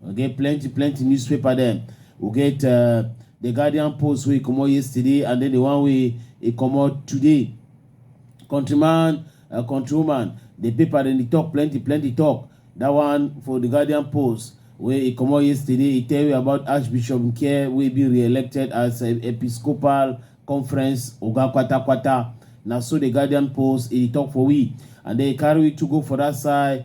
We get plenty plenty newspaper dem. We get uh, the Guardian Post wey comot yesterday and then the one wey e comot today. Countryman, uh, countrywoman, the paper dem dey talk plenty plenty talk. That one for the Guardian Post wey e comot yesterday e tell you about Archbishop Nkye wey be re-elected as uh, Episcopal Conference oga kwatakwata. Na so the Guardian Post e dey talk for we and then e carry we to go for that side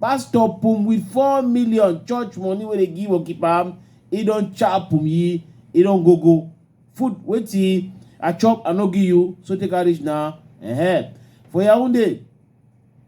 Pastor pum with four million church money wey dey give Okipam, he don chop pum yi, he don go go. Food wetin I chop I no give you, so take am reach now. Ehen. For Yaounde,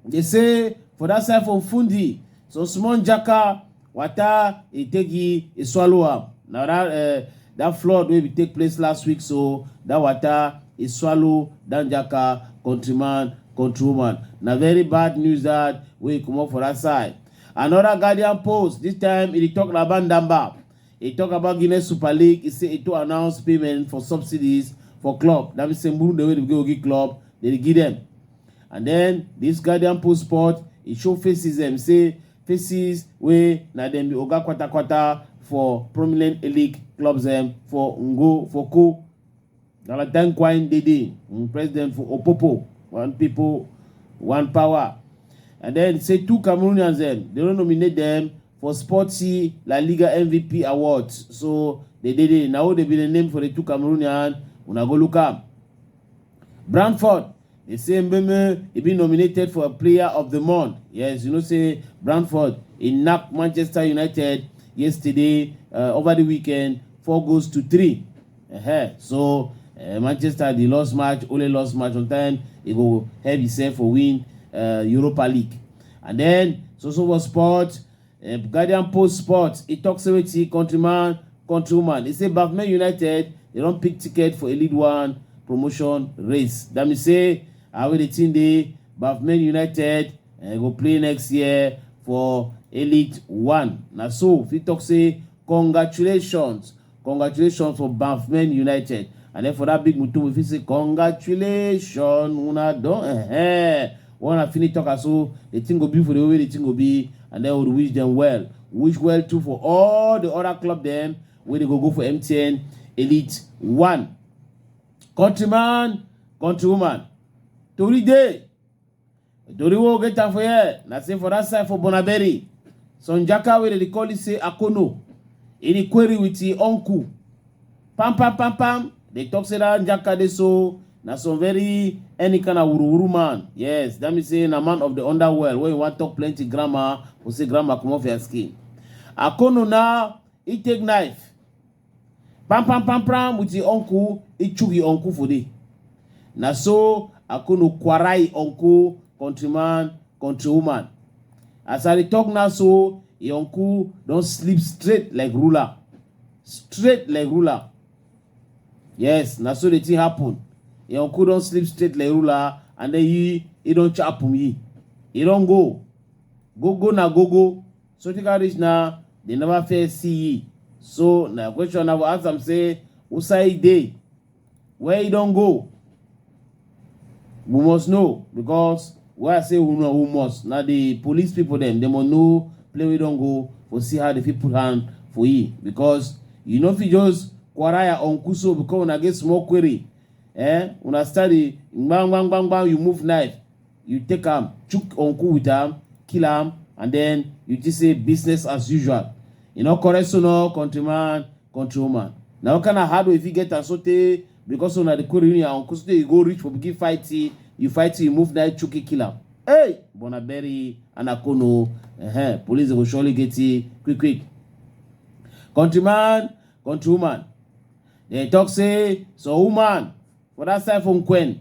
dey say for that side for Fundy, some small jaka Water e take e, e swallow am. Na that uh, that flood wey bin take place last week so that water e swallow Dan Jaka countryman countrywoman. Na very bad news that wey comot for that side. Another Guardian post this time e dey talk about Ndamba. E talk about Guinness Super League. E say e to announce payment for subsidies for club. That means say Murunde wey dey go give club, they dey give them. and then this guardian post sport e show faces dem say faces wey na dem be oga kwatakwata for prominent elite clubs dem for ngo for ko galatan kwine dede um, president for opopo one people one power and then say two cameroonians dem dem don nominate dem for sporty la liga mvp awards so they dede na who dey be the name for the two cameroonian una go look am. Brantford dey say Mbeumo e be nominated for player of the month. Yes, you know say Brantford e knack Manchester United yesterday uh, over the weekend four goals to three. Uh-huh. So uh, Manchester dey lost match, only lost match on time. E go help himself for win uh, Europa League. And then Sosobo Sport Um, Guardian Post Sports, e tok say wetin countryman, countrywoman, e say Bafman United dey don pick ticket for a lead one promotion race. That mean say I wey the team dey Bafman United uh, go play next year for Elite One. Na so fit talk say congratulations Congratulations for Banffmen United and then for that big mutum we fit say congratulations una don eh when una finish talk am so the thing go be for the way wey the thing go be and then we dey wish dem well wish well too for all the other club dem wey dey go go for MTN Elite One countryman countrywoman tori dey Dori wo get am for here na say for that side for Bonaberi, some jaka wey dem dey call it say Akono, e dey query with him uncle. Pam pam pam pam, they talk say that jaka dey so na some very any kind of wuruwuru man. Yes, that means say na man of the underworld wey you wan talk plenty grammar, go say grammar comot for your skin. Akono now, he take knife. Pam pam pam pam with him uncle, he chook him uncle for there. Na so Akono kwara him uncle, countryman, countrywoman. As I dey talk now so, him uncle don sleep straight like ruler. Straight like ruler. Yes, na so the thing happen. Him uncle don sleep straight like ruler and then he, he don chapum he. He don go. Go go na go go. So tika reach now, they never fair see ye. So na question I will ask them say, who say they? Where you don't go? We must know because where I say who know who must. Now the police people them, they must know play we don't go for see how the people hand for ye. Because you know if you just quaraya on kuso because when I get small query, eh? When I study, bang bang bang bang, you move knife. you take am chook uncle with am kill am and then you just say business as usual you know correct so no countryman countrywoman na what kind of hard way you fit get am so tey because una dey quarrel your uncle so tey you go reach for begin fight you you fight you move knife chook you kill am hey bona bury anakono uh-huh. police go surely get you quick quick countryman countrywoman dem talk say some woman for that side from queen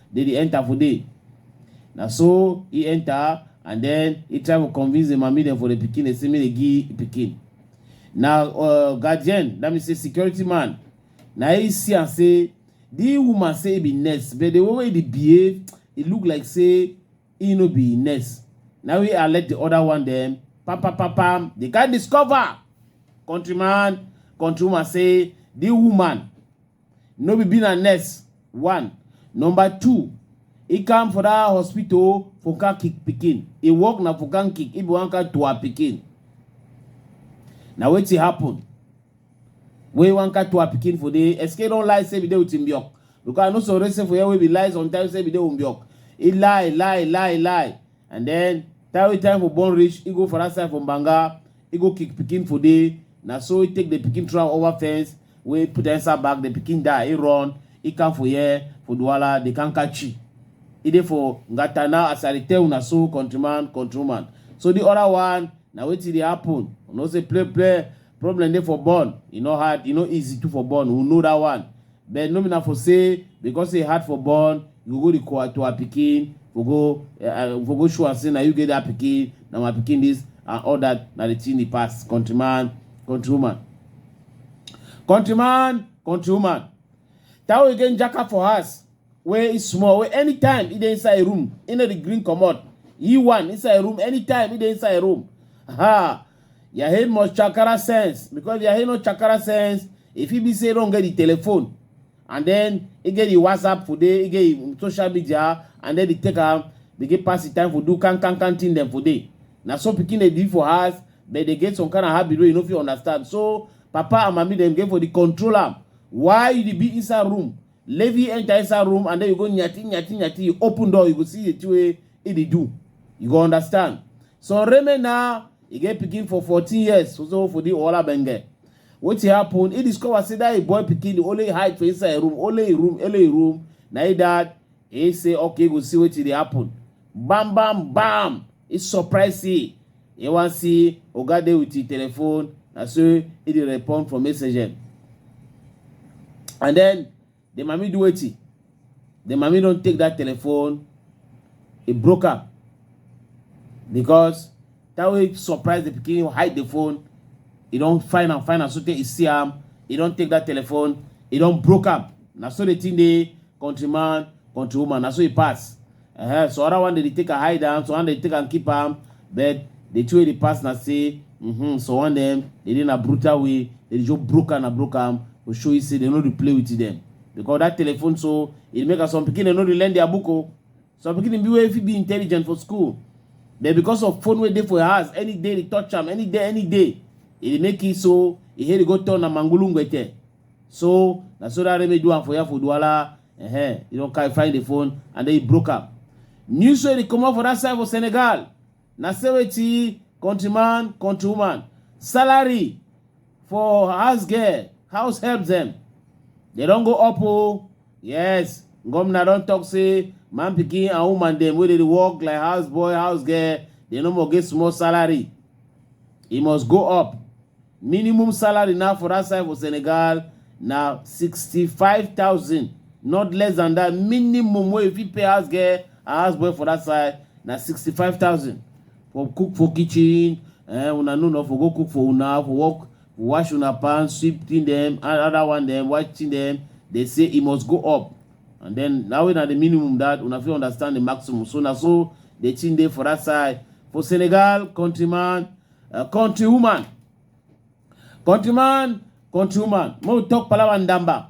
dey dey enter for dey na so he enter and then he try to convince the mami dem for the pikin dey say make dey give pikin na uh, guardian that means say security man na he see am say the woman say he be nurse but the way wey he dey behave e look like say he no be nurse na we alert the other one dem pam pam pam pam they can discover countryman countrywoman say the woman no be being a nurse one number two e come for that hospital for car kick pikin e work na for car kick e be one car to her pikin na wetin happen wey one car to her pikin for dey escape don lie say be dey with him biok because i no so say for here wey be lie sometimes say be dey with him biok e lie lie lie lie and then time wey time for born reach e go for that side for banga e go kick pikin for dey na so e take the pikin throw am over fence wey put inside bag the pikin die he run he come for here for Douala they can't catch you he dey for Ngata now as I dey tell una so countryman countrywoman so the other one na wetin dey happen you know say play play problem dey for born e no hard e no easy too for born we know that one but no be na for say because e hard for born you go go the kowa to her pikin for go uh, for go show am say na you get that pikin na my pikin this and all that na the thing the past countryman countrywoman Countryman, countrywoman, that way get jaka for house wey e small wey anytime e dey inside room e no dey green comot e one inside room anytime e dey inside room ha your head must chakara sense because your head no chakara sense e fit be say e don get the telephone and then e get the whatsapp for there e get the social media and then e take am begin pass the time for do can can can thing dem for there na so pikin dey be for house But they get some kind of habit wey you no fit understand. So papa and mami dem get for the control am. Why you dey be inside room? Levi enter inside room and then you go nyati nyati nyati. You open door, you go see the thing wey he dey do. You go understand. So Reme now, he get pikin for 14 years. So so for the Ola Benge. Wetin happen? He discover say that him boy pikin dey only hide for inside him room, only him room, only him room. Na him dad He say, okay, go see wetin dey happen. Bam, bam, bam. He surprise see. He wan see Oga dey with him telephone. Na so he dey respond from message. And then the mami do wetin? The mami don take that telephone. He broke am because that way surprise the pikin hide the phone e don find am find am sotey e see am e don take that telephone e don broke am na so the thing dey countryman countrywoman na so e pass uh -huh. so other one dey take am hide am so one dey take am keep am but the two wey dey pass na say mm -hmm, so one dem dey dey na brutal way dey dey just broke am na broke am go show you say dem no dey play with them because that telephone so e make am some pikin dem no dey learn their book o. Oh. some pikin be wey fit be intelligent for school but because of phone wey dey for your house any day dey touch am any day any day e dey make it so e head go turn na mangulu ngwete so na so that remedy do am for ya for duala uh-huh. you don carry find the phone and then e broke am news wey dey comot for that side for senegal na say wetin countryman countrywoman salary for house girl house help dem dem don go up o yes gomna don talk say man pikin and woman dem wey dey dey work like house boy house girl dem no more get small salary e must go up minimum salary now for that side for senegal na sixty-five thousand not less than that minimum wey you fit pay house girl and house boy for that side na sixty-five thousand for cook for kitchen eh, una know not for go cook for una for work wash una pan sweep thing dem another one dem wash thing dem dey say e must go up and then na wey na the minimum that una fit understand the maximum so na so the thing dey for that side for senegal countryman uh, countrywoman countryman countrywoman make we talk palava ndamba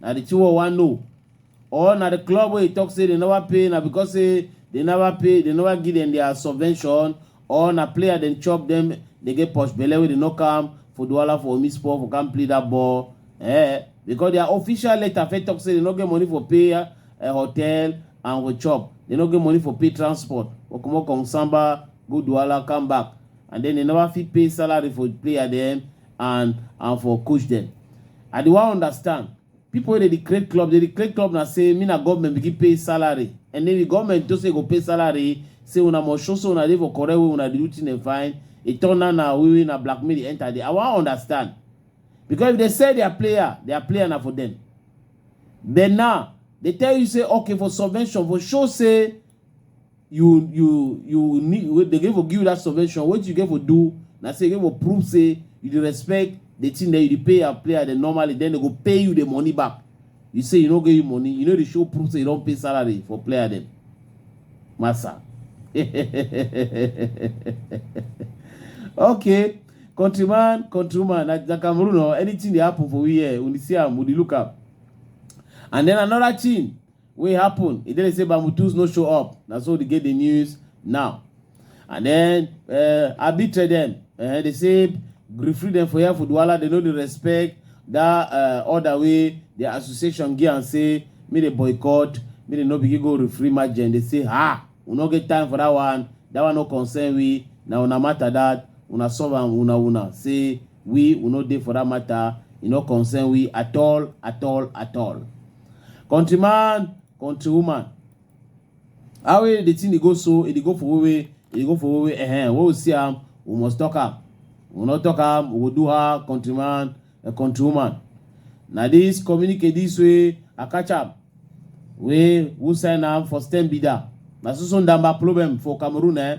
na the thing wey we wan know or na the club wey e talk say they never pay na because say they never pay they never give them their subvention or na player dem chop dem dey get posh belle wey dey knock am for duwala for omi sport for come play that ball eh because their official letter fit talk say they no get money for pay uh, hotel and for chop they no get money for pay transport for comot from samba go duwala come back and then they never fit pay salary for player dem and and for coach dem i dey wan understand people wey dey dey create club dey dey create club na say me na government begin pay salary and then the government to say go pay salary say una must show say una dey for correct way una dey do thing dem fine e turn na na wey wey na blackmail dey enter there i wan understand because if they sell their player their player na for them then now they tell you say okay for subvention for show say you you you need wey dey get for give you that subvention wetin you get for do na say you get for prove say you dey respect the thing dem you dey pay your player dem normally then they go pay you the money back you say you no get you money you no dey show proof say you don pay salary for player dem massa okay countryman countrywoman na na cameroon o anything dey happen for we here we dey see am we dey look am and then another thing wey happen e dey say Bamutus no show up na so dey get the news now and then uh, arbitre dem uh, dey say referee dem for here for Douala dey no dey respect that uh, order wey the association give am say make dey boycott make dey no begin go referee match dem dey say ah we no get time for that one that one no concern we na una matter that una solve am una una say we we no dey for that matter e no concern we at all at all at all. country man country woman how wey the thing dey go so e dey go for wey e dey go for wey ehem wey we see am we must talk am we no talk am we go do her country man and country woman na this communicate this way i catch am wey who sign am for stem be that na so so ndamba problem for cameroon eh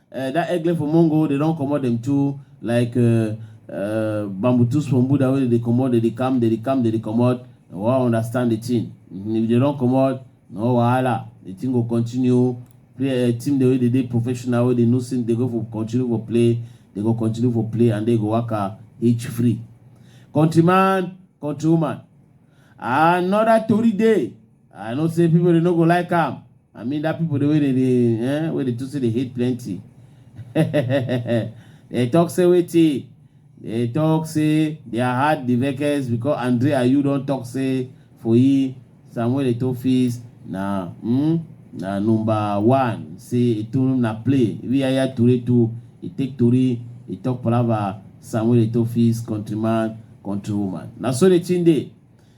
Eh that egle for mongo dey don comot dem too like uh, uh, bambutus for mbuda wey dey dey comot dey dey come dey dey come dey dey comot we wan understand the thing Mhm, if dey don comot no wahala the thing go continue play eh, team dey wey dey dey professional wey dey know say dey go for continue for play dey go continue for play and dey go waka each free countryman countrywoman another tori dey I know say people dey no go like am. I mean that people dey wey dey dey eh, wey dey too say dey hate plenty. they talk say wetin they talk say their heart dey vex because andre ayew don talk say for him samuel eto fees na mm, na number one say eto na play if yaya ture to e take tori e talk palava samuel eto fees countryman countrywoman na so the thing dey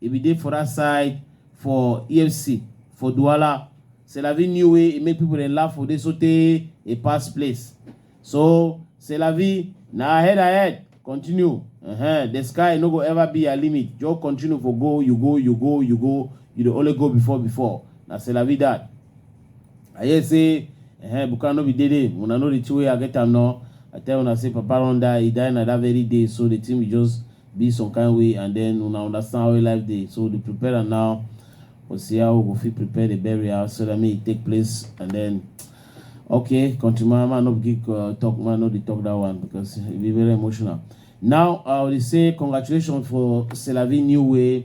E bin dey for dat side for efcc for Douala. C'est la vie new way e make pipo dem laugh for dey sotey e pass place. So c'est la vie na ahead ahead continue ehen the sky no go ever be ya limit just continue for go you go you go you go you dey only go before before na c'est la vie dat. I hear say ehen Buka no be dey dey una know the thing wey I get am nor I tell una say papa run die e die na dat very day so the thing be just be some kind way and then una understand how life dey so dey prepare am now we see how we go fit prepare the burial so that make e take place and then okay country man man no be give uh, talk man no dey talk that one because e be very emotional now i dey say congratulations for selavi new way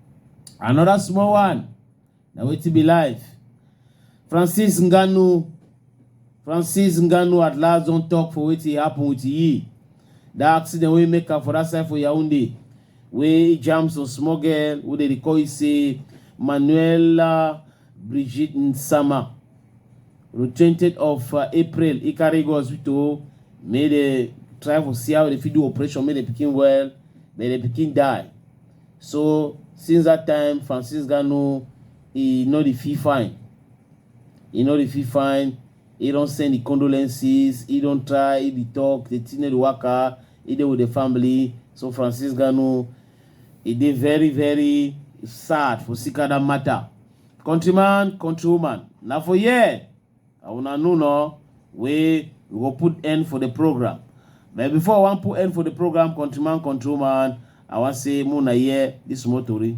Another small one. Na wetin be life. Francis Ngannou Francis Ngannou at last don talk for wetin happen with Yi. That accident wey make am for that side for Yaoundé wey jam some small girl wey dey dey call you say Manuela Brigitte Nsama. On the 20th of uh, April, he carry go hospital, make they try for see how they fit do operation, make the pikin well, but the pikin die. So since that time, Francis Gano, he no dey feel fine. He no dey feel fine. He don send the condolences. He don try. He dey talk. The thing no dey waka. He dey with the family. So Francis Gano, he dey very very sad for Sikada matter. Countryman, countrywoman, na for here. And una know now wey we go put end for the program. But before I wan put end for the program, countryman, control man, I wan say make una hear this small tori.